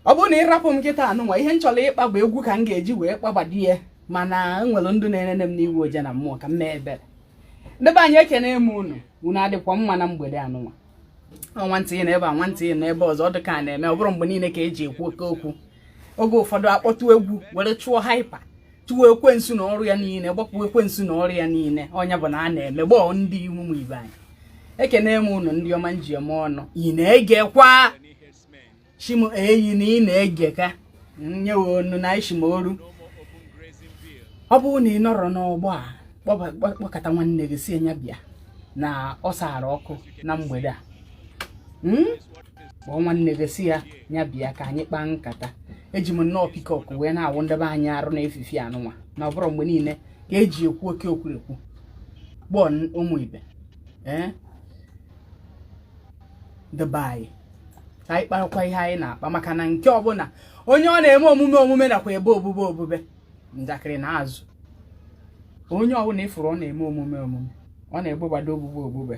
ọ bụrụ na ị rapụ m kịta anụnwa ihe m chọrọ ịkpa bụ egwu ka m ga-eji wee kpagbadi ya mana enwere ndụ na-enene m n'iwu oje na mmụọ ka m mee ebere ndị be anyị ekene m unu unu adịkwa mma na mgbede anụnwa nwantị na ebe a nwantị na ebe ọzọ ọ dị ka a na-eme ọ bụrọ mgbe niile ka eji ekwu oke okwu oge ụfọdụ akpọtụ egwu were chụọ hyper chụọ ekwensu na ọrụ ya niile gbapụ ekwensu na ọrụ ya niile ọ nya bụ na a na-eme gbọọ ndị ụmụ ibe anyị ekene m ụnụ ndị ọma m ji eme ọnụ ị na-egekwa sị m eyi na ị na-ege ka nyewe unu na ishim oru ọ bụrụ na ị nọrọ n'ọgbọ a kpọkọta nwanne gị sị nya bịa na ọ sara ọkụ na mgbede a hmm? kpọọ nwanne gị sị ya nya bịa ka anyị kpaa nkata eji m nnọọ peacock wee na-awụ ndị be anyị arụ na efifie anụnwa na ọ bụrọ mgbe niile ka eji ekwu oke okwurekwu gbọọ ụmụ ibe ee eh? dị be anyị ka anyị kparakwa ihe anyị na-akpa maka na nke ọbụla onye ọ na-eme omume omume nakwa ebe obube obube njakịrị na azụ onye ọbụla ị fụrụ ọ na-eme omume omume ọ na-ebegbado obube obube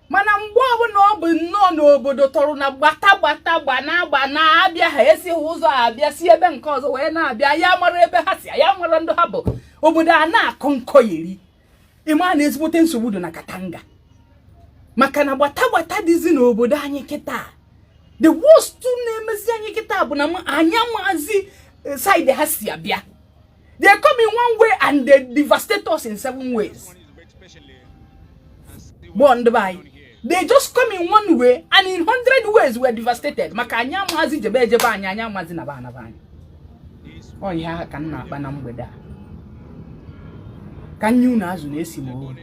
mana mgbe ọbụla ọ bụ nnọọ n'obodo tọrọ na gbata gbata gba na agba na-abịa ha esighị ụzọ abịa si ebe nke ọzọ wee na-abịa ya mara ebe ha si ya mara ndị ha bụ obodo a na-akọ nkọ yeri ị ma na ezigbote nsogbu dị na katanga maka na gbata gbata dịzi n'obodo anyị kịta the worst na-emezi anyị kịta bụ na anyị amazi eh, saịdị ha si abịa they come in one way and they devastate us in seven ways gbọọ ndị be anyị they just come in one way and in hundred ways we're devastated maka anyị amazi jebe ejebe anya anyị amazi naba anaba anya ọ ihe ahụ ka m na-akpa na mgbede a ka nye unu azụ na-esi m ohu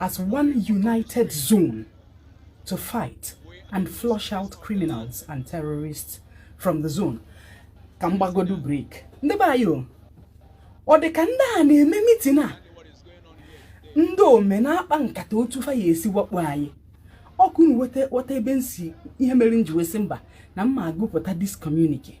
as one united zone to fight and flush out criminals and terrorists from the zone ka m gbagodu break ndị be anyị o ọ dị ka ndị a na-eme meeting a ndị ome na-akpa nkata otu fa ya-esi wakpo anyị ọkwa unu wọta ebe m si ihe mere m ji wee sị mba na m ma agụpụta this communique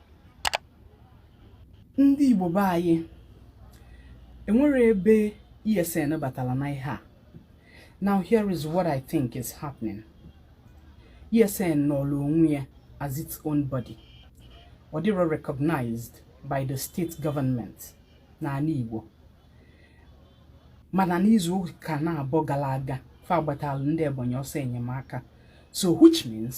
ndị Igbo be anyị enwere ebe ESN batala na ihe a now here is what I think is happening ESN nọrọ onwe ya as its own body ọ dịrọ recognized by the state government n'ana Igbo mana n'izu ụka naabọ gara aga fa agbatalụ ndị Ebonyi ọsọ enyemaka so which means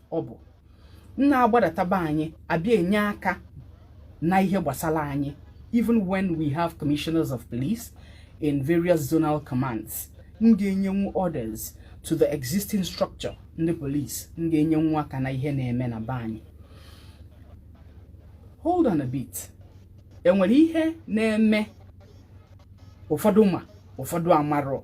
ọ bụ m na-agbadata be anyị abịa enye aka na ihe gbasala anyị even when we have commissioners of police in various zonal commands m ga-enyenwu orders to the existing structure ndị police m ga-enyenwu aka na ihe na-eme na be anyị hold on a bit enwere ihe na-eme ụfọdụ ma ụfọdụ amarọ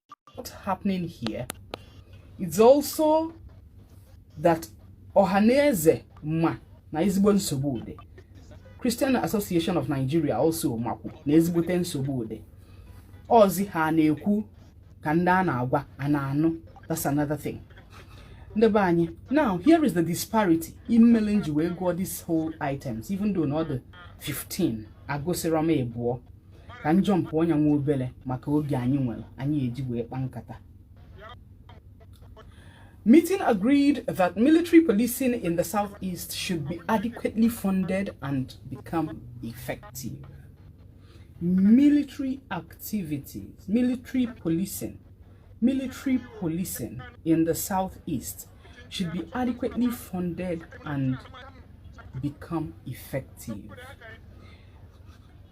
what's happening here it's also that Ohanaeze ma na ezigbo nsogbu dị Christian Association of Nigeria also makwu na ezigbote nsogbu dị ọzi ha na-ekwu ka ndị a na-agwa a na-anụ that's another thing ndị be anyị now here is the disparity ihe mele m ji wee gụọ this whole items even though na ọ dị 15 agụsịrọ m ibụọ ka m jumpụọ nya nwa obere maka oge anyị nwere anyị eji wee kpa nkata Meeting agreed that military policing in the southeast should be adequately funded and become effective. Military activities, military policing, military policing in the southeast should be adequately funded and become effective.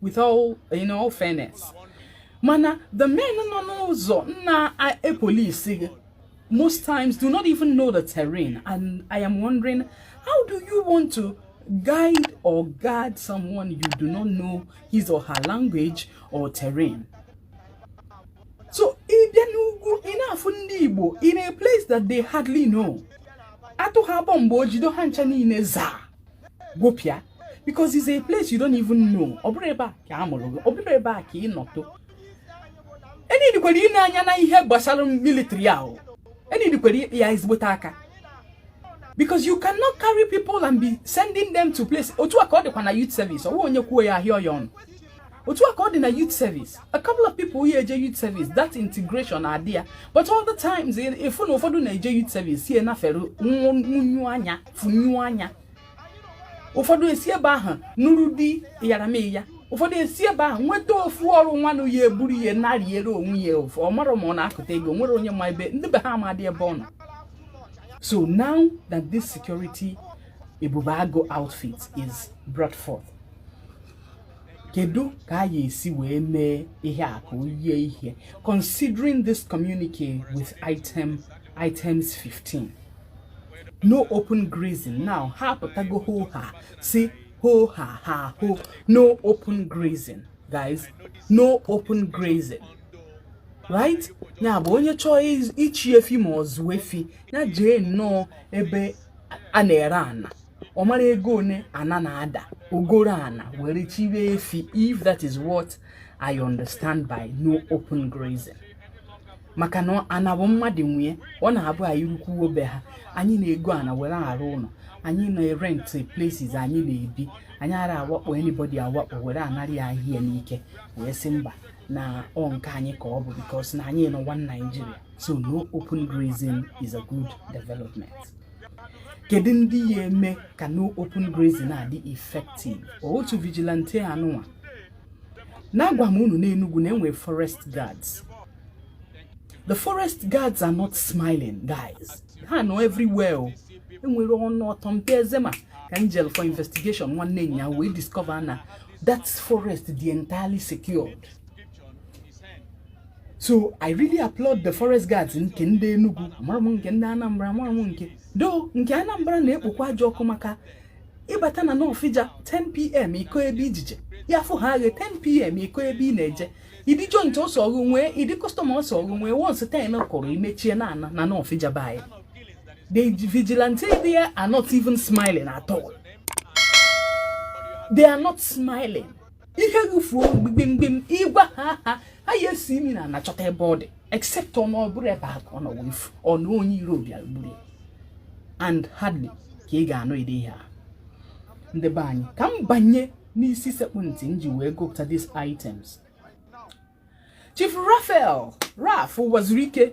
with all in all fairness mana the men nọ n'ụzọ na-epolisi gị most times do not even know the terrain and I am wondering how do you want to guide or guard someone you do not know his or her language or terrain so ị bịa n'ugwu ị na-afụ ndị Igbo in a place that they hardly know atụọ ha bomb o jido ha ncha niile zaa gwepịa because it's a place you don't even know ọ bụrụ ebe a ka a mụrụ gị ọ bụrụ ebe a ka ị nọtụ e needikwara ile anya na ihe gbasara military ahụ e needikwara ịkpa ya ezigbote aka because you cannot carry people and be sending them to place otu a ka ọ dịkwa na youth service ọ wụ onye kwuo ya a hịọ ya ọnụ otu a ka ọ dị na youth service a couple of people ya eje youth service that integration adị ya but all the times ị fụ na ụfọdụ na-eje youth service si enafere nwunyu anya funyu anya ụfọdụ esi ebe ahụ nụrụ di yaramiya ụfọdụ esi ebe ahụ nweta ofu ọrụ nwanụ ya eburu ya na-eriere onwe ya ofu ọ mara ma ọ na-akụta ego nwere onye ma ebe ndị be ha amadị ebe ọ nọ so now that this security ebube agụ outfit is brought forth kedu ka a ya esi wee mee ihe a ka o yie ihe considering this communique with item items 15 no open grazing now ha apụtago ho ha sị ho ha ha ho no open grazing guys no open grazing right ya bụ onye chọọ ịchị efi ma ọ zụọ efi ya jee nnọọ ebe a na-ere ana ọ mara ego one ana na-ada o goro ana were chịwe efi if that is what I understand by no open grazing maka na ana bụ mmadụ nwe ya ọ na-abụ anyị rukwuo be ha anyị na-ego ana were arụ ụlọ anyị na-erent places anyị na-ebi anyị ara awakpo anybody awakpo were anara ya ahịa n'ike wee sị mba na ọ nke anyị ka ọ bụ because na anyị nọ one Nigeria so no open grazing is a good development kedu ndị ya eme ka no open grazing na-adị effective ọ otu vigilante anụnwa na-agwa m unu n'Enugu na enwere forest guards the forest guards are not smiling guys ha nọ everywhere oh. enwere ọnụ ọtọ mpe ezema ka anyị jelu for investigation nwanne anyị wee discover na that forest dị entirely secured so i really applaud the forest guards nke ndị Enugu mara m nke ndị Anambra mara m nke though nke Anambra na-ekpokwa ajọ ọkụ maka ị bata na Nawfija 10pm ị kọọ ebe i ji eje ya fụ ha aghe 10pm ị kọọ ebe ị na-eje ụdị joint ọ sọrọ nwee ụdị customer ọ sọrọ nwee once ten kụrụ i mechie na-ana na Nawfija be anyị the vigilante there are not even smiling at all they are not smiling ihe gị fuo gbim gbim ị gwa ha ha ha ya esi imi n'ana chọta ebe ọ dị except ọ na ọ bụrọ ebe a ka ọ nọ wee fuo na onye iro bịara gburu ya and hardly ka ị ga-anụ ụdị ihe a ndị be anyị ka m banye n'isi sekpụ ntị m ji wee gụpụta these items Chief Raphael Raf Uwazuruike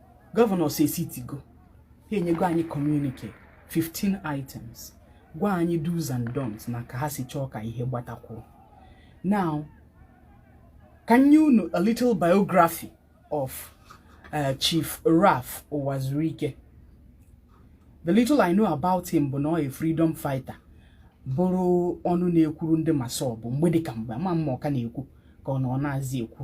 governors esitigo ha enyego anyị communique 15 items gwa anyị do's and don'ts na ka ha si chọọ ka ihe gbatakwuo now ka m nye unu a little biography of uh, Chief Ralph Uwazuruike the little I know about him bụ na ọ freedom fighter bụrụ ọnụ na-ekwuru ndị MASSOB mgbe dịka mgbe ama m ma ọ ka na-ekwu ka ọ na ọ naazi ekwu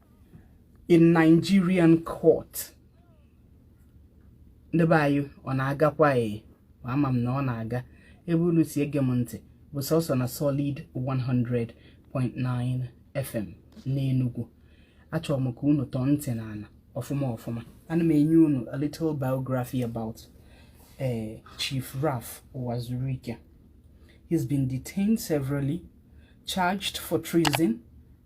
in Nigerian court ndị be anyị ọ na-agakwa ee ama m na ọ na-aga ebe unu si ege m ntị bụ sọsọ na solid 100.9 FM n'Enugu achọrọ m ka unu tọọ ntị n'ala ọfụma ọfụma ana m enye unu a little biography about uh, Chief Ralph Uwazuruike he's been detained severally charged for treason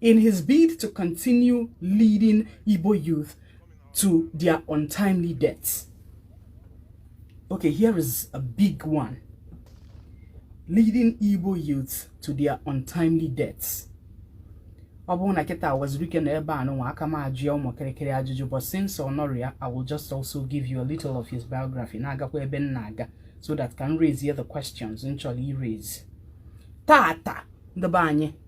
in his bid to continue leading Igbo youth to their untimely deaths. Okay, here is a big one. Leading Igbo youth to their untimely deaths. ọ bụrụ na kịta Uwazuruike nọ ebe a nụnwa aka m ajụ ya ụmụ kịrịkịrị ajụjụ but since ọ nọrọ ya I will just also give you a little of his biography na-agakwa ebe m na-aga so that ka m raise the questions m chọrọ iraise tata ndị be anyị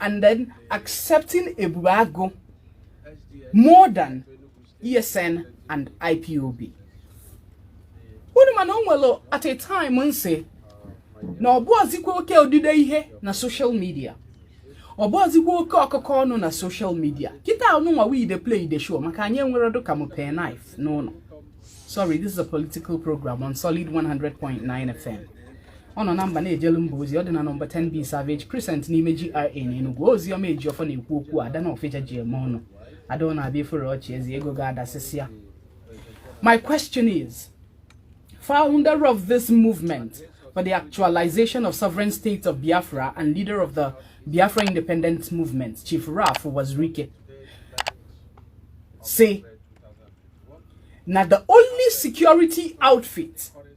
and then accepting Ebube Agu more than ESN and IPOB. Unu ma na o nwere at a time m sị na ọ bụghịzikwa oke odide ihe na social media ọ bụghịzikwa oke ọkụkọ ọnụ na social media kịta nụnwa we dey play the show maka anyị enwere dụka m pen knife n'ụnọ sorry this is a political program on solid 100.9 fm ọ nọ na mba na-ejelu mba ozi ọ dị na nọmba 10 b Savage Crescent n'ime GRA na Enugu Ozioma Ejiofor na-ekwu okwu ada Nawfija ji eme ọnụ ada ọ na-abịa ifere ọchị eze ego ga-adasịsịa my question is founder of this movement for the actualization of sovereign states of Biafra and leader of the Biafra independence movement Chief Ralph Uwazuruike sị na the only security outfit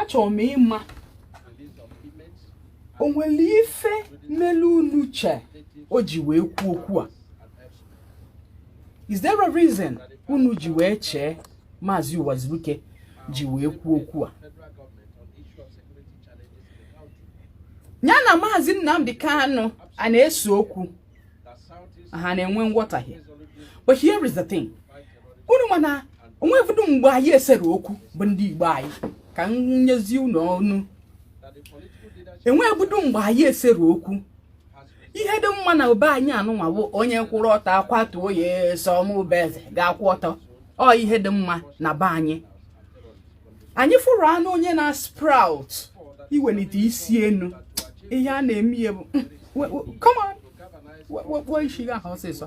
achọrọ m ịma o nwere ife melu unu chee o ji wee kwuo okwu a is there a reason unu ji wee chee maazị Uwazuruike ji wee kwuo okwu a nya na maazị Nnamdi Kanu ana-ese okwu ha na-enwe nghọtahie but here is the thing unu ma na o nwebudu mgbe anyị esere okwu bụ ndị Igbo anyị ka m nyezi unu ọnụ enwebudu mgbe anyị esere okwu ihe dị mma na be anyị anụnwa bụ onye kwụrụ ọtọ akwatuo ya sọ mụ bụ eze ga-akwụ ọtọ ọ ihe dị mma na be anyị anyị fụrụ anụ onye na sprout iwelite isi enu ihe a na-eme ihe bụ hmm, come on wekpuo isi gị ahụ ọsịsọ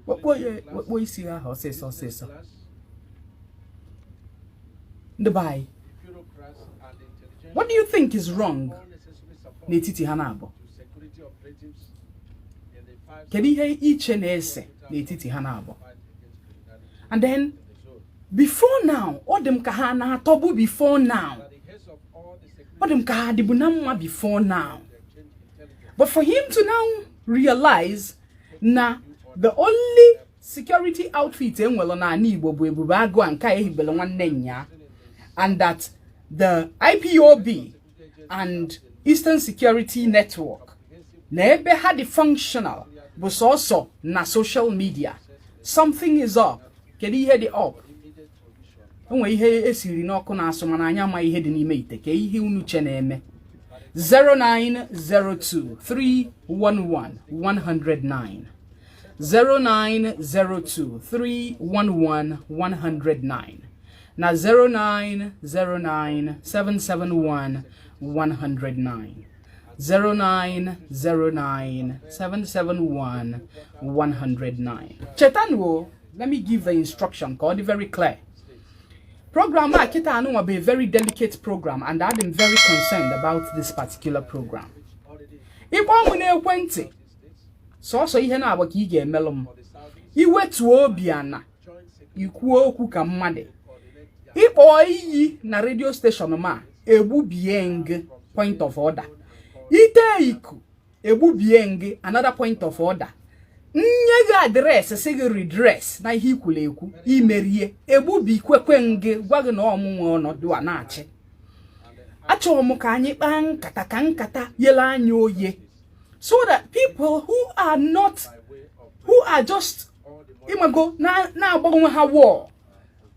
wekpuo isi gị ahụ ọsịsọ ọsịsọ ndị be anyị what do you think is wrong n'etiti ha naabọ kedu ihe i che na-ese n'etiti ha naabọ and then before now ọ dị m ka ha na-atọbu before now ọ dị m ka ha dịbu na mma before now but for him to now realize na the only security outfit enwelu n'ana Igbo bụ Ebube Agụ a nke a ehibelu nwanne nya and that the IPOB and Eastern Security Network na ebe ha dị functional bụ sọsọ na social media something is up kedu ihe dị up o nwe ihe esiri n'ọkụ na-asụ mana anyị ama ihe dị n'ime ite kee ihe unu che na-eme 09023111109 09023111109 na 0909771 109 0909771 109 chetanụ let me give the instruction ka ọ dị very clear program a kịta anụnwa bụ a very delicate program and adị m very concerned about this particular program ị kpọọ mụ n'ekwentị sọsọ ihe naa gba aka ị ga-emelụ m i wetuo obi ana i kwuo okwu ka mmadụ ị kpọọ iyi na radio station m egbubie ngị point of order ite iku egbubie ngị another point of order nye gị address sị gị redress na ihe i kwulu ekwu i merie egbubikwekwe ngị gwa gị na ọ mụ nwe ọnọdụ a na-achị achọrọ m ka anyị kpaa nkata ka nkata yele anya oye so that people who are not who are just ịmago na-agba onwe ha war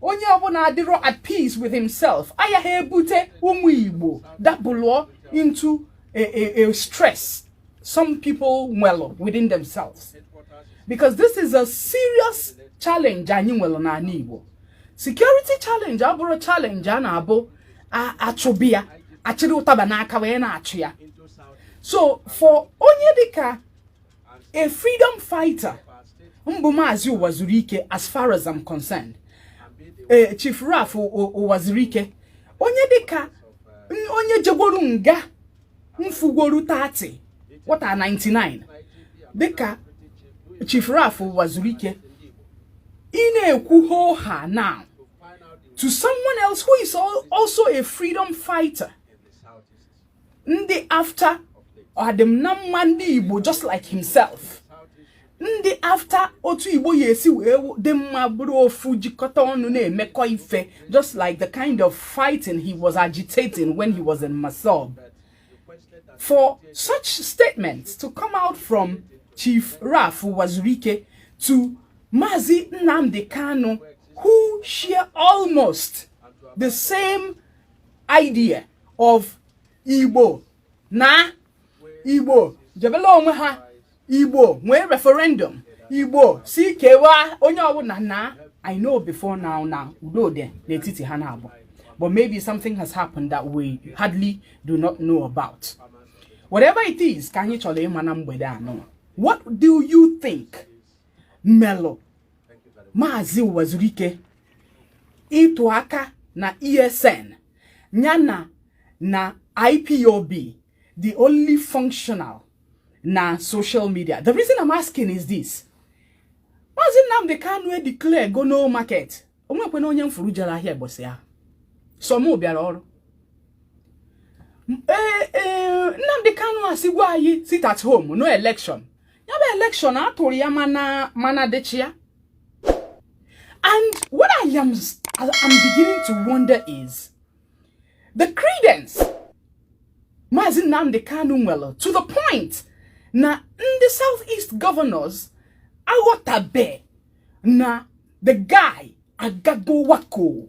onye ọbụla adịrọ at peace with himself ayaha ebute ụmụ igbo dabalụ into a, a, a stress some people nwelụ within themselves because this is a serious challenge anyị nwelụ n'ala igbo security challenge abụrọ challenge a na-abụ achụba ya achịrị ụtaba n'aka wee na-achụ ya so for onye dịka a freedom fighter mbụ maazị Uwazuruike as far as I'm concerned ee Chief Ralph Uwazuruike onye dịka onye jegworo nga mfugworo 30 wata 99 dịka Chief Ralph Uwazuruike ị na-ekwu hoha now to someone else who is also a freedom fighter ndị after ọdịm na mma ndị igbo just like himself ndị after otu igbo ya-esi wee dị mma bụrụ ofu jikọta ọnụ na-emekọ ife just like the kind of fighting he was agitating when he was in MASSOB for such statements to come out from Chief Ralph Uwazuruike to Mazi Nnamdi Kanu who share almost the same idea of igbo na igbo jebelụ onwe ha igbo nwee referendum igbo sị kewaa onye ọbụla naa i know before now na udo dị n'etiti ha na abụọ but maybe something has happened that we hardly do not know about whatever it is ka anyị chọrọ ịma na mgbede a nọ what do you think melụ maazị Uwazuruike ịtụ aka na ESN nya na na IPOB dị only functional na social media the reason I'm asking is this maazị Nnamdi Kanu e declare go no market onwekwana onye m furu jere ahịa ụbọsị ahụ sọ mụ bịara ọrụ ee e, Nnamdi Kanu asịgwo anyị sit at home no election ya bụ election a tụrụ ya mana dịchị ya and what I am I'm beginning to wonder is the credence Mazi Nnamdi Kanu nwere to the point na ndị South East governors aghọtabe na the guy agago wako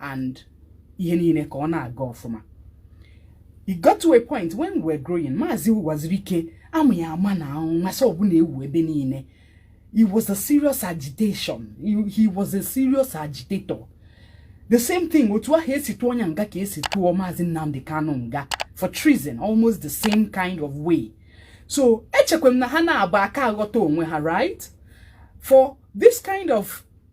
and ihe niile ka ọ na-aga ọfụma it got to a point when we were growing maazị Uwazuruike a ma ya ama na MASSOB na-ewu ebe niile it was a serious agitation he was a serious agitator the same thing otu ahụ esi tụọ nya nga ka esi tụọ maazị Nnamdi Kanu nga for treason almost the same kind of way so echekwa m na ha naabọ aka aghọta onwe ha right for this kind of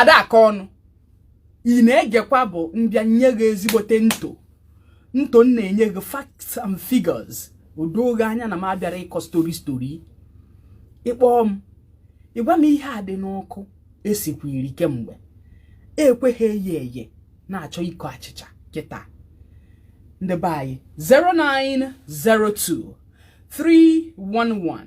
adaaka ọnụ ị na-egekwa bụ mbịa nye gị ezigbote nto nto m na-enye gị facts and figures o doo gị anya na m abịara ịkọ story story ịkpọọ m ịgwa m ihe a dị n'ọkụ esikwiri kemgbe ekweghị eye eye na-achọ ịkọ achịcha kịta ndị be anyị 0902 311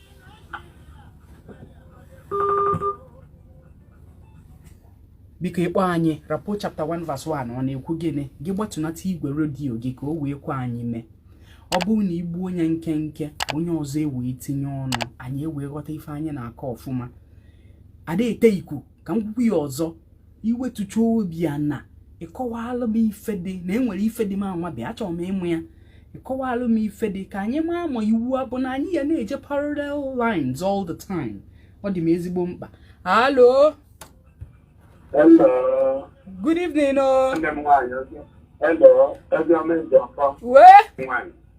biko ịkpọ anyị rapport chapter 1 verse 1 ọ na-ekwu gịnị gị gbatunata igwe redio gị ka o wee kwe anyị mee ọ bụrụ na igbuo nya nkenke onye ọzọ ewee tinye ọnụ anyị ewee ghọta ife anyị na-akọ ọfụma ada ete iku ka m kwukwuo ya ọzọ iwetucha obi ana ịkọwalụ m ife dị na enwere ife dị m anwa bịa achọrọ m ịmụ ya ịkọwalụ m ife dị ka anyị maa ma iwu a bụ na anyị ya na-eje parallel lines all the time ọ dị m ezigbo mkpa hello good evening o oh. wee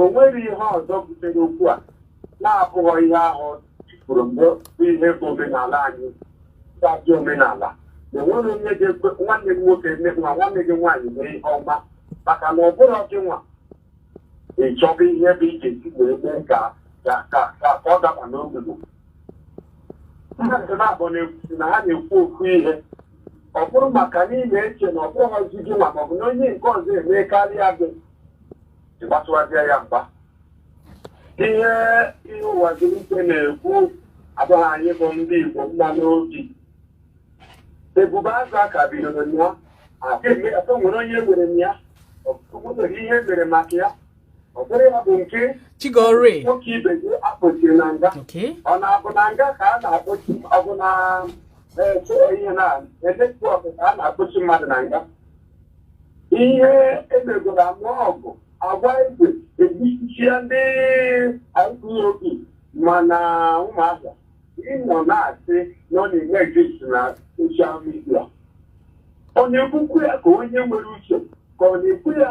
o nwere ihe ọzọ butere okwu a na-abụghọ ihe ahụ ikwuru mgbe mbụ ihe bụ omenala anyị gbajụ omenala na enwere onye ga-ekwe nwanne gị nwoke eme nwa nwanne gị nwaanyị mee ihe ọma maka na ọ bụrụ gị nwa ịchọba ihe bụ ị je-esi wee mee ka ka ka ka ọ daba n'ogugo mmadụ naabọ na-ekwu na ha na-ekwu okwu ihe ọ bụrụ maka n'ime eche na ọ bụghịzi gị ma ọ bụ na onye nke ọzọ eme karịa gị ịgbasowazịa ya mgba ihe Uwazuruike na-ekwu abụghị anyị bụ ndị Igbo mma n'obi Ebube Agụ aka bidoro ya aka nwere onye nwere m ya ọ nwere ihe mere maka ya ọ bụrụ ya bụ nke chigore nwoke ibe gị akpọchiri na nga okay ọ na-abụ na nga ka a na-akpọchi ọ bụ na eh, so ihe na netwọk ka a na-akpọchi mmadụ na nga ihe emegoro anụ ọgụ agwa igwe egbusichaa ndị IPOB mana ụmụazị nọ na-asị na ọ na-eme gist na social media ọ na-ekwukwu ya ka onye nwere uche ka ọ na-ekwu ya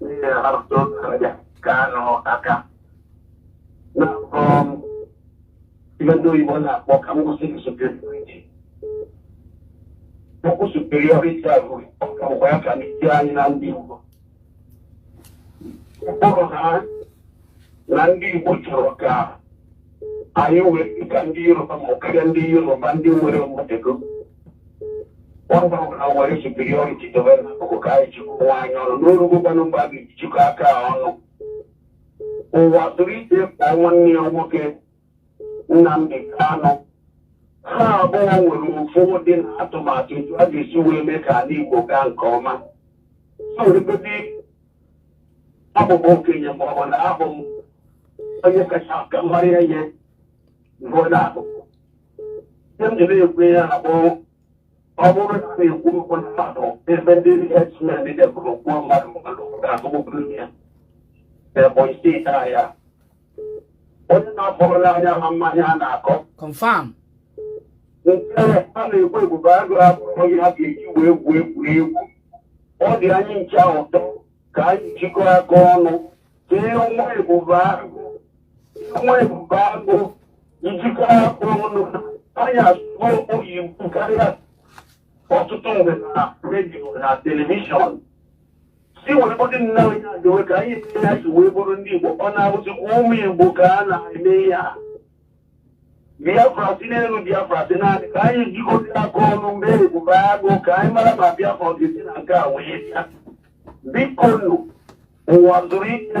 ndị hapụta otu ndị ka anụ aka na um, ihe ndị oyibo na-akpọ ka m kwuo sị superiority okwu superiority a bụ ọkwa ya ka ndị anyị na ndị Igbo mkpụrụ ha na ndị Igbo chọrọ ka anyị wee ka ndị Yoruba ma karịa ndị Yoruba ndị nwere mmadụ ọ bụrụ na e were superiority dobe n'akụkụ ka anyị jikwa anyị ọnụ n'orugokwanụ mgbe a ga-ejikọ aka ọnụ Uwazuruike kpọọ nwanne ya nwoke Nnamdi Kanu ha abụọ nwere ofu obi na atụmatụ etu a ga-esi wee mee ka ala Igbo gaa nke ọma sogote abụ m okenye ma ọ bụ na abụ m onye kacha aka mara ihe bụ na abụ ihe m ji na-ekwu ya na bụ ọ bụrụ na a na-ekwu okwu na mmadụ ebe ndị herdsmen debụrụ kwuo mmadụ mmadụ ga-azụgbụburu ya Ebonyi steeti a ya onye na-akpọrọla anyị ama ma ihe a na-akọ confam nke a na-ekwu ebube agụ abụrọ onye ha ga-eji wee gwuo egwuregwu ọ dị anyị ncha ụtọ ka anyị jikọ aka ọnụ ka e nwee ebube agụ nwee ebube agụ ijikọ aka ọnụ anyị asụgo oyibo karịa ọtụtụ mgbe na redio na telivishọn si were bute na anyị adịwe ka anyị na-esi wee bụrụ ndị Igbo ọ na-abụzikwa ụmụ Igbo ka a na-eme ya Biafra si n'elu Biafra si n'anị ka anyị jikọta aka ọnụ nwee ebube agụ ka anyị mara ma Biafra ọ ga-esi na nke a wee bịa biko nụ Uwazuruike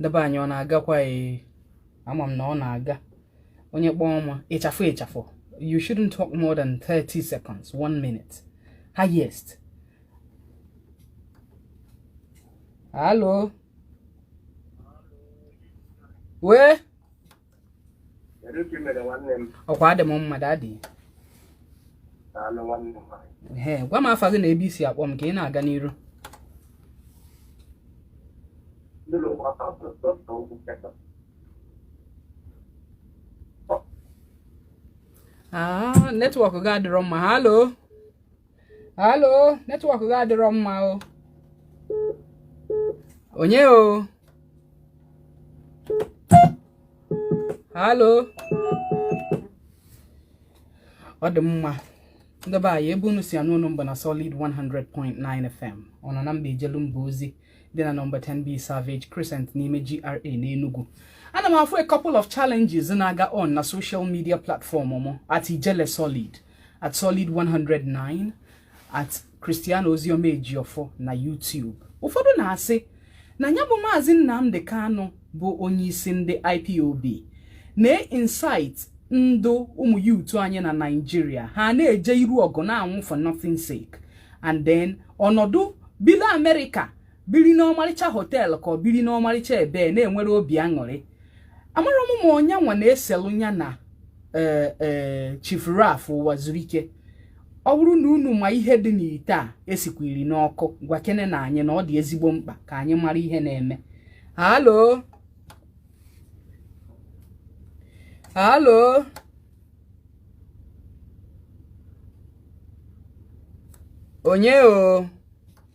ndị be anyị ọ na-agakwa ee ama m na ọ na-aga onye kpọọ ọma ịchafụ ịchafụ you shouldn't talk more than 30 seconds one minute highest halo ee ọkwa adị m mma dadị ee gwa m afa gị na ebe i si akpọ m ka ị na-aga n'iru ah, netwọk gị adịrọ mma halo halo netwọk gị adịrọ mma o onye o halo ọ dị mma ndị be anyị ebe unu si anụ onu m bụ na solid 100.9 fm ọ nọ na mba ejelu mba ozi dị na nọmba 10b savage crescent n'ime gra n'enugu ana m afụ a couple of challenges na-aga on na social media platform mụ at ijele solid at solid 109 at Christiano Ozioma Ejiofor na YouTube ụfọdụ na-asị na ya bụ maazị Nnamdi Kanu bụ onye isi ndị IPOB na-incite ndị ụmụ youth anyị na Naịjirịa ha na-eje iru ọgụ na-anwụ for nothing sake and then ọ nọdụ bili Amerịka biri n'ọmarịcha hotel ka ọ biri n'ọmarịcha ebe na-enwere obi aṅụrị amara m ma ọ nya nwa na-eselụ nya na e, e, Chief Ralph Uwazuruike ọ bụrụ na unu ma ihe dị n'ite a esikwiri n'ọkụ gwakenenụ anyị na ọ dị ezigbo mkpa ka anyị mara ihe na-eme hello hello onye o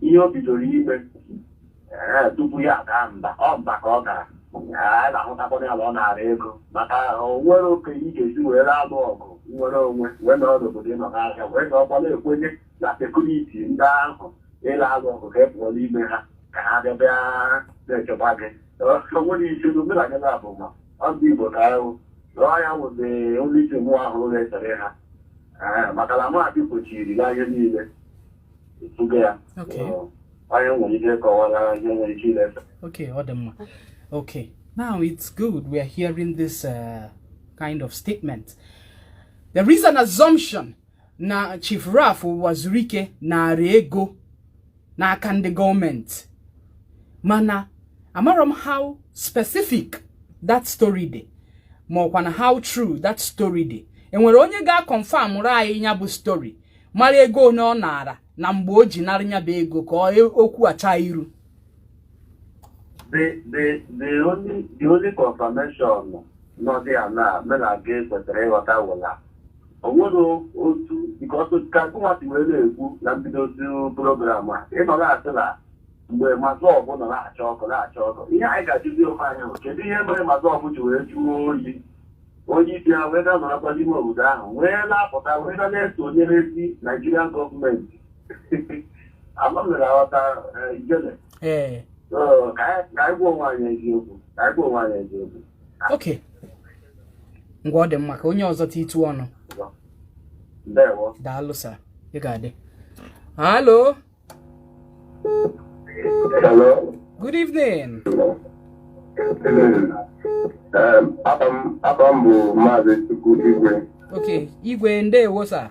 ihe o bidoro ime ee, tupu ya aga mba ọ mba ka ọ gara Ee, anyị na-ahụtakwana ya na ọ nara ego maka o nwere oke ị ga-esi wee na-alụ ọgụ nnwere onwe wee nọrọ n'obodo ịnọ n'ahịa wee na ọkwa na-ekwenye na security ndị ahụ ị la-alụ ọgụ ka ị pụọ n'ime ha ka ha bịa bịa na-echekwa gị o nwere isi n'omenala na abụma ọ ndị Igbo ka ahụ rụọ ya wụdị onye isi mụ ahụ na-esere ha Ee, maka na maadị gbochiri ya ihe niile etuga ya Okay. Ọ, onye nwere ike kọwara ihe nwere ike ileta Okay, ọ dị mma. Okay, now it's good we are hearing this uh, kind of statement. There is an assumption na Chief Ralph Uwazuruike nara ego n'aka ndị gọọmenti mana amarọ m how specific that story dị ma ọkwanụ how true that story dị e nwere onye ga-akọnfamụrụ anyị nya bụ story mara ego one ọ naara na mgbe o ji narị nya bụ ego ka okwu a chaa iru the the the only the only confirmation nọ there now mụ na gị kwesịrị ịghọta wụ la o nwere otu nke ọtụ ka gụnwa si wee na-ekwu na mbido otu program a ị nọ na-asị na mgbe MASSOB nọ na-acha ọkụ na-acha ọkụ ihe anyị ga-ajụzi onwe anyị bụ kedu ihe mere MASSOB ji wee jụọ oyi onye isi ha wee ga-anọrọkwa n'ime obodo ahụ wee na-apụta wee na na-esonyerezi Nigerian gọọmenti ee okay ngwa ọ dị mma ka onye ọzọ ta itu ọnụ daalụ sir ị ga-adị hello good evening um, afa m bụ maazị Chukwu Igwe okay Igwe ndewo sir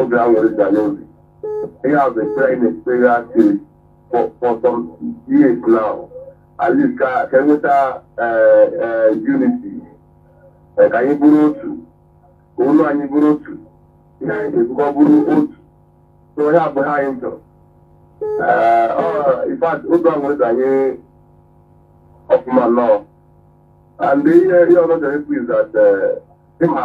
obi aṅụrị dị anyị n'obi ihe a bụ ekpere anyị na-ekpere asị for for some years now at least ka ka e nweta eh, eh, unity Eh, ka anyị bụrụ otu ka olu anyị bụrụ otu ihe anyị ga-ebukọ bụrụ otu so ihe a bụ ihe anyị chọrọ Eh, ọ in fact obi aṅụrị dị anyị ọfụma nnọọ and ihe ihe ọzọ m chọrọ ikwu is that eh, ịma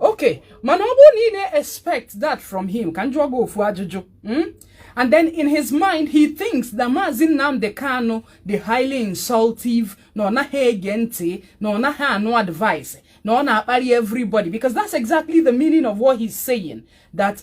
ok mana ọ bụrụ na ị na-expect that from him ka m jụọ gị ofu ajụjụ hmm? and then in his mind he thinks that Mazi Nnamdi Kanu dị highly insultive na ọ naghị ege ntị na ọ naghị anụ advice na ọ na-akparị everybody because that's exactly the meaning of what he's saying that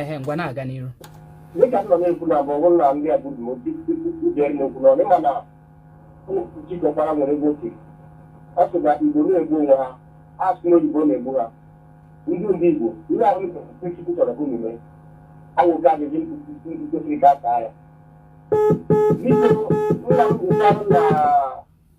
ehe ngwa na-aga n'iru dịka nọ na-ekwu na bụ ọbụrụ na ndị abụrụ m ojere na-ekwu na ọdịma na jikọkwara nwere ego oke ọ sị na igbo na-egbu onwe ha asị na oyibo na-egbu ha ndị ndị igbo ihe ahụ chukwu chọrọ ka unu mee awụga ajụjụ ndị kwesịrị ka aka ya biko nna m gwụkwarụ na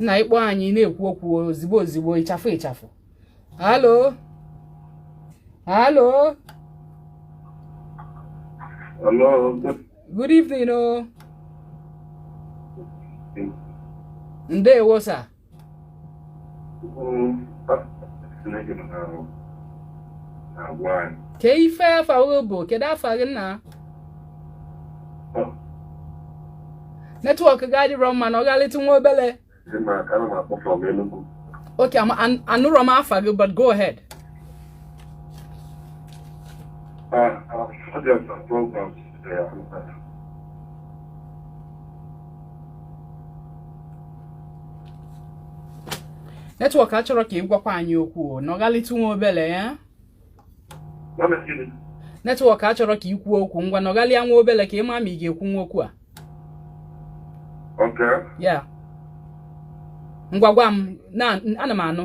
nna ị kpọọ anyị na-ekwu okwu ozigbo ozigbo ịchafụ ịchafụ hello hello Hello. Good evening, oh. Ndewo, sir. kee ife afa gị bụ kedu afa gị nna netwọk gị adịrọ mma nọghalịtụ nwa obele okay anụrọ m afa gị but go ahead netwọk achọrọ ka ị gwakwa anyị okwu nọghalịtụ nwa obele ya netwọk achọrọ ka ị kwuo okwu ngwa nọghalịa nwa obele ka ị ma ma ị ga-ekwunwu okwu a ya ngwa gwa m na ana m anụ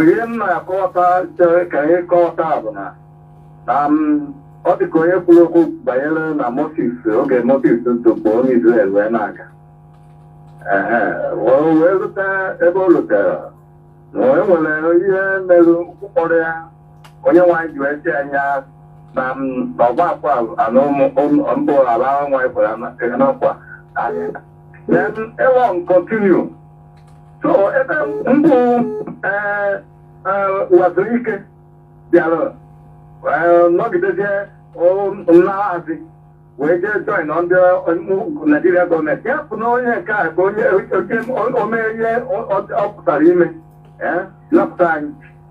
ihe m na-akọta chere ka anyị kọta bụ na na ọ dị ka onye kwuru okwu banyere na Moses oge Moses dupụ ndị Izrel wee na-aga wee rute ebe o rutere na e nwere ihe merụ ụkpọrọ ya onye nwaanyị ji wee si anya na ọgba akwa anụ mbụ ala nwaanyị kwara na nkwa then ịlọ continue so ebe mbụ ee Uwazuruike bịara ee, nọgidezie laghazi wee jee join ndị ọ- naijiria gọọmenti ya bụ na onye nke a bụ onye onye o mee ihe ọ pụtara ime ee napụta anyị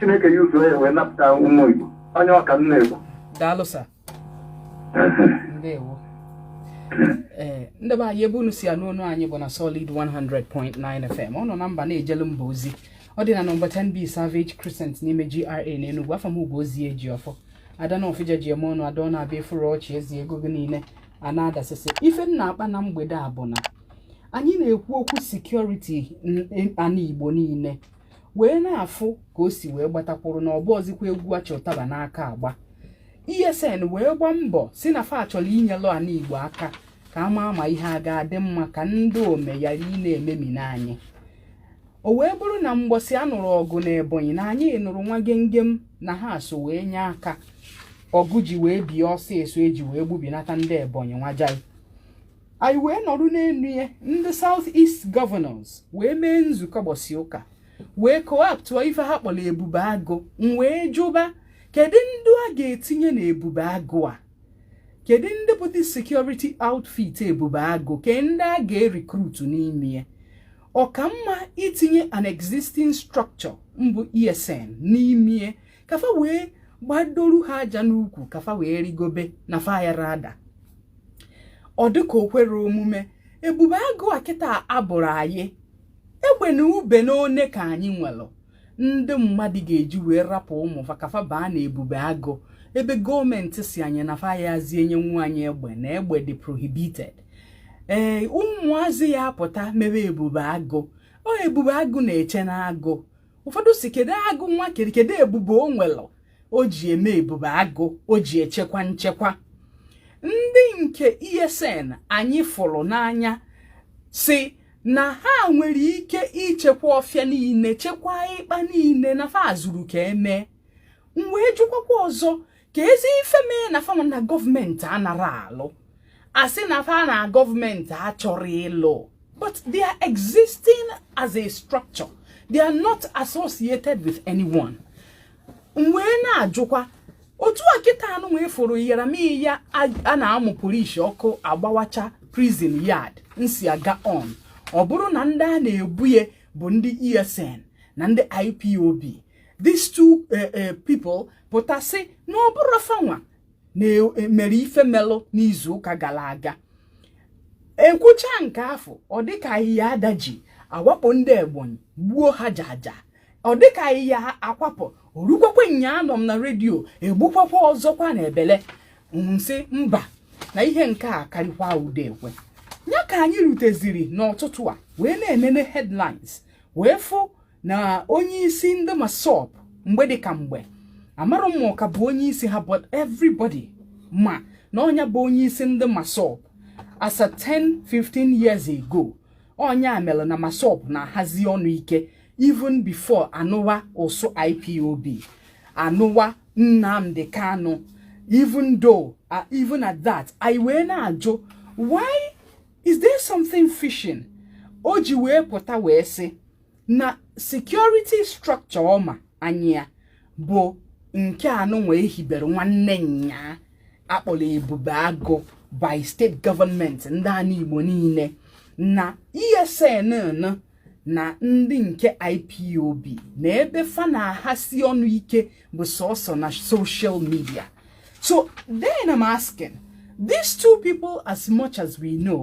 chineke ya usoro ya wee napụta ụmụ igbo onye ọka nna igbo daalụ sa ndewo ee eh, ndị be anyị ebe unu si anụ onu anyị bụ na solid 100.9 fm ọ nọ na mba na-ejelu mba ozi ọ dị na nọmba 10b savage crescent n'ime gra na enugwu afa m bụ Ngozi Ejiọfọ ada Nọfịja ji eme ọnụ ada ọ na-abịa efuru ọchị ezi ego gị niile a na-adasịsị ife m na-akpa na mgbede a bụ na anyị na-ekwu okwu sekuriti ana igbo niile wee na-afụ ka o si wee gbatakwuru na ọ bụrọzikwa egwu a chị ụtaba n'aka agba ESN wee gbaa mbọ sị na fa chọrọ inyelụ ana Igbo aka ka a ma ama ihe a ga-adị mma ka ndị ome yara ịna-ememina anyị o wee bụrụ na mgbọsị a nụrụ ọgụ na ebonyi na anyị nụrụ nwa gengem na ha so wee nye aka ọgụ ji wee bie ọsịsọ e ji wee gbubinata ndị ebonyi nwajai anyị wee nọrọ n'elu ya ndị South East Governors wee mee nzukọ gbọsị ụka wee kọwapụta ife ha kpọrọ ebube agụ m wee jụba kedu ndị a ga-etinye na ebube agụ a kedu ndị bụ the security outfit ebube agụ ke ndị a ga-erekrutu n'ime ya ọ ka mma itinye an existing structure mbụ ESN n'ime ka fa wee gbadoru ha aja n'ukwu ka fa wee rigobe na fa yara ada ọ dịka o kwere omume ebube agụ a kịta abụrụ anyị egbe na ube na one ka anyị nwere ndị mmadụ ga-eji wee rapụ ụmụ fa ka fa baa na ebube agụ ebe gọọmenti sị anyị na fa ayazị enyenwu anyị egbe na egbe dị prohibited ee ụmụazị a apụta mebe ebube agụ ọ ebube agụ na-eche na agụ ụfọdụ sị kedu agụ nwa kere kedu ebube o nwere o ji eme ebube agụ o ji echekwa nchekwa ndị nke ESN anyị fụrụ n'anya sị na ha nwere ike ichekwa ọfịa niile chekwaa ịkpa niile na fa zuru ka e mee m wee jụkwakwa ọzọ keezi ife mee na fa nwa na gọọmenti anara alụ a sị na fa na gọọmenti achọrọ ịlụ but they are existing as a structure they are not associated with anyone m wee na-ajụkwa otu a kịta anụ wee fụrụ yara ma ihe a na-amụ polisi ọkụ agbawacha prison yard nsi aga on ọ bụrụ na ndị a na-ebuye bụ ndị esn na ndị ipob these two eh, eh, people pụta sị na ọ bụrọ fanwa na-emere eh, ife melụ n'izu ụka gara aga ekwucha nke afụ ọ dịka ahịhịa adaji awakpo ndị Ebonyi gbuo ha jaja ọ dịka ahịhịa akwapụ orukwakwa nyaa anọ m na redio egbukwakwa ọzọkwa na Ebele m sị mba na ihe nke a karịkwa ude ekwe ya ka anyị ruteziri n'ọtụtụ a wee na-enene headlines wee fụ na onye isi ndị MASSOB mgbe dị ka mgbe amarọ m ma ọ ka bụ onye isi ha but everybody ma na ọ nya bụ onye isi ndị MASSOB as at 10 15 years ago ọ nya melụ na MASSOB na-ahasi ọnụ ike even before anụwa ụzụ IPOB anụwa Nnamdi Kanu even though uh, even at that anyị wee na-ajụ why is there something fishing o ji wee pụta wee sị na security structure ọ ma anya bụ nke anụnwa e hibere nwanne nyaa a kpọrọ Ebube Agụ by state government ndị ani Igbo niile na ESN na ndị nke IPOB na ebe fa na-ahasi ọnụ ike bụ sọsọ na social media so then i'm asking these two people as much as we know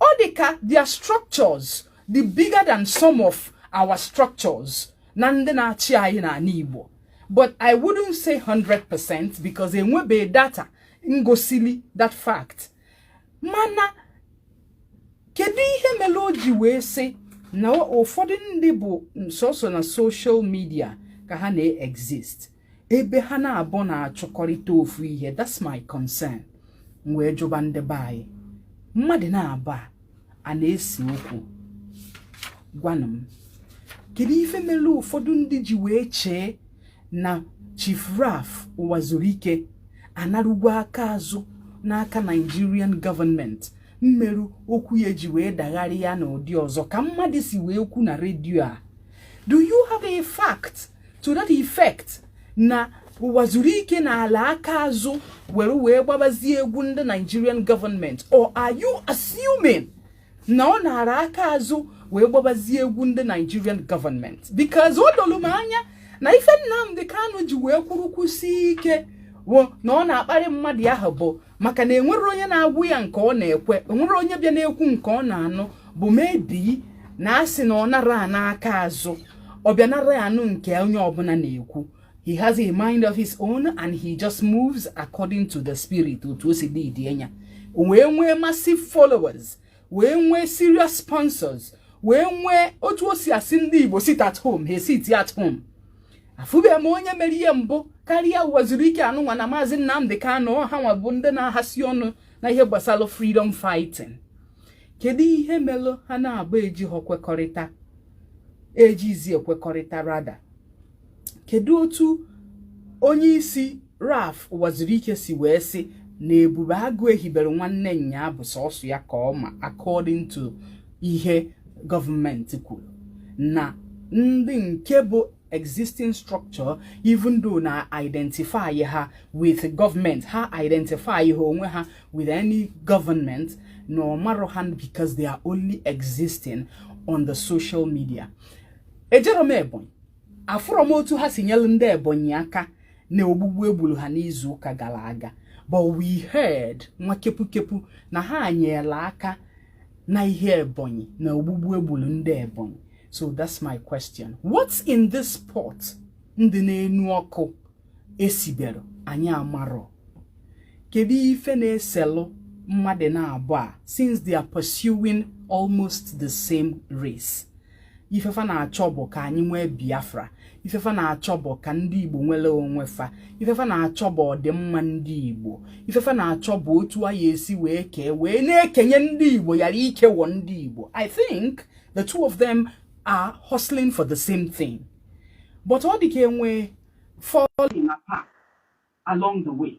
ọ dị ka their structures dị bigger than some of our structures na ndị na-achị anyị n'ani Igbo but I wouldn't say 100% because enwebeghị data ngosili that fact mana kedu ihe melu o ji wee sị na ụfọdụ ndị bụ sọsọ na social media ka ha na-exist ebe ha naabọ na-achụkọrịta ofu ihe that's my concern m wee jụba ndị be anyị mmadụ naabọ a na-ese okwu gwanụ m kedu ife mere ụfọdụ ndị ji wee chee na Chief Ralph Ụwazuruike anarugwo aka azụ n'aka Nigerian government merụ okwu ya ji wee dagharịa n'ụdị ọzọ ka mmadụ si wee kwu na redio a do you have a fact to that effect na Ụwazuruike nalụ aka azụ were wee gbabazie egwu ndị Nigerian government or are you assuming na ọ nara aka azụ wee gbabazie egwu ndị Nigerian government because o dolu m anya na ife Nnamdi Kanu ji wee kwụrụ kwụsie ike na ọ na-akparị mmadụ ahụ bụ maka na enwerọ onye na-agwa ya nke ọ na-ekwe enwerọ onye bịa na-ekwu nke ọ na-anụ bụ maybe na asị na ọ nara ana aka azụ ọ bịa nara ya anụ nke onye ọbụla na-ekwu he has a mind of his own and he just moves according to the spirit otu o si dị dị anya wee nwee massive followers wee nwee serious sponsors wee nwee otu o si asị ndị Igbo sit at home he sit at home afụbe m onye mere ihe mbụ karịa Ụwazuruike anụnwa na maazị Nnamdi Kanu ha nwa bụ ndị na-ahasi ọnụ na ihe gbasara freedom fighting kedu ihe melụ ha naabọ eji kwekọrịta ejizi ekwekọrịta rather kedu otu onye isi Ralph Ụwazuruike si wee sị na ebube agụ e hibere nwanne nnyaa bụ sọsọ ya ka ọ ma according to ihe gọọmenti kwuru na ndị nke bụ existing structure even though na identify ha with government ha identify ha onwe ha with any government na ọ marọ ha because they are only existing on the social media ejerọ m ebonyi afụrọ m otu ha si nyelu ndị ebonyi aka na ogbugbu e gburu ha n'izu ụka gara aga but we heard nwa kepukepu na ha nyela aka na ihe Ebonyi na ogbugbu e gburu ndị Ebonyi so that's my question what's in this pot ndị n'enu ọkụ esiberọ anyị amarọ kedu ife na-eselụ mmadụ naabọ a since they are pursuing almost the same race ife fa na-achọ bụ ka anyị nwee biafra ife fa na-achọ bụ ka ndị igbo nwere onwe fa ife fa na-achọ bụ ọdịmma ndị igbo ife fa na-achọ bụ otu a ya-esi wee kee wee na-ekenye ndị igbo yara ikewo ndị igbo i think the two of them are hustling for the same thing but ọ dị ka e nwe falling apart along the way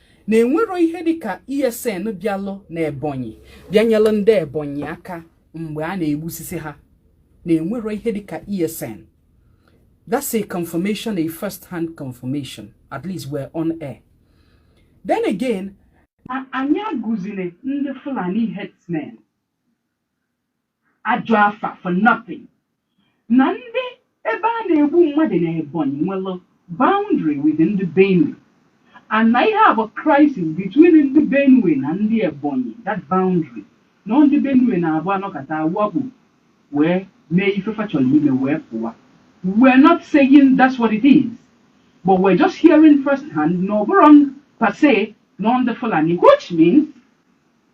na e nwerọ ihe dịka ESN bịalụ na Ebonyi bịanyelụ ndị Ebonyi aka mgbe a na-egbusisi ha na e nwerọ ihe dịka ESN that's a confirmation a first hand confirmation at least we're on air then again anyị agụziri ndị Fulani herdsmen ajọ afa for nothing na ndị ebe a na-egbu mmadụ na Ebonyi nwere boundary with ndị Benue and na ihe a bụ crisis between ndị Benue na ndị Ebonyi that boundary na ndị Benue na-abụ a nọkata a wakpo wee mee ife fa chọrọ ime wee pụwa we're not saying that's what it is but we're just hearing first hand na ọ bụrọ per se na ọ ndị Fulani which means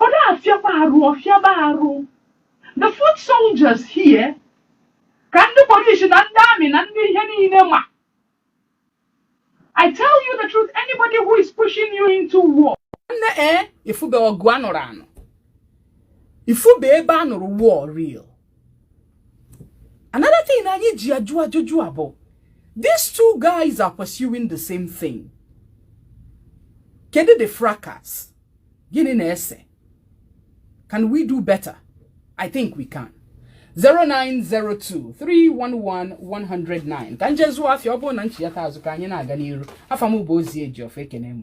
ọ na-afịaba arụ ọ fịaba arụ the foot soldiers here ka ndị polisi na ndị amị na ndị ihe niile ma I tell you the truth anybody who is pushing you into war nne ee eh, ị fụbe ọgụ a nụrụ anụ ị fụbe ebe a nụrụ war real another thing na anyị ji ajụ ajụjụ a bụ these two guys are pursuing the same thing kedu the fracas gịnị na-ese can we do better i think we can 09023111009 ka m je zụọ afịa ọ bụrụ na m chiyata azụ ka anyị na-aga n'iru afa m bụ ozi ejiọfọ ekene m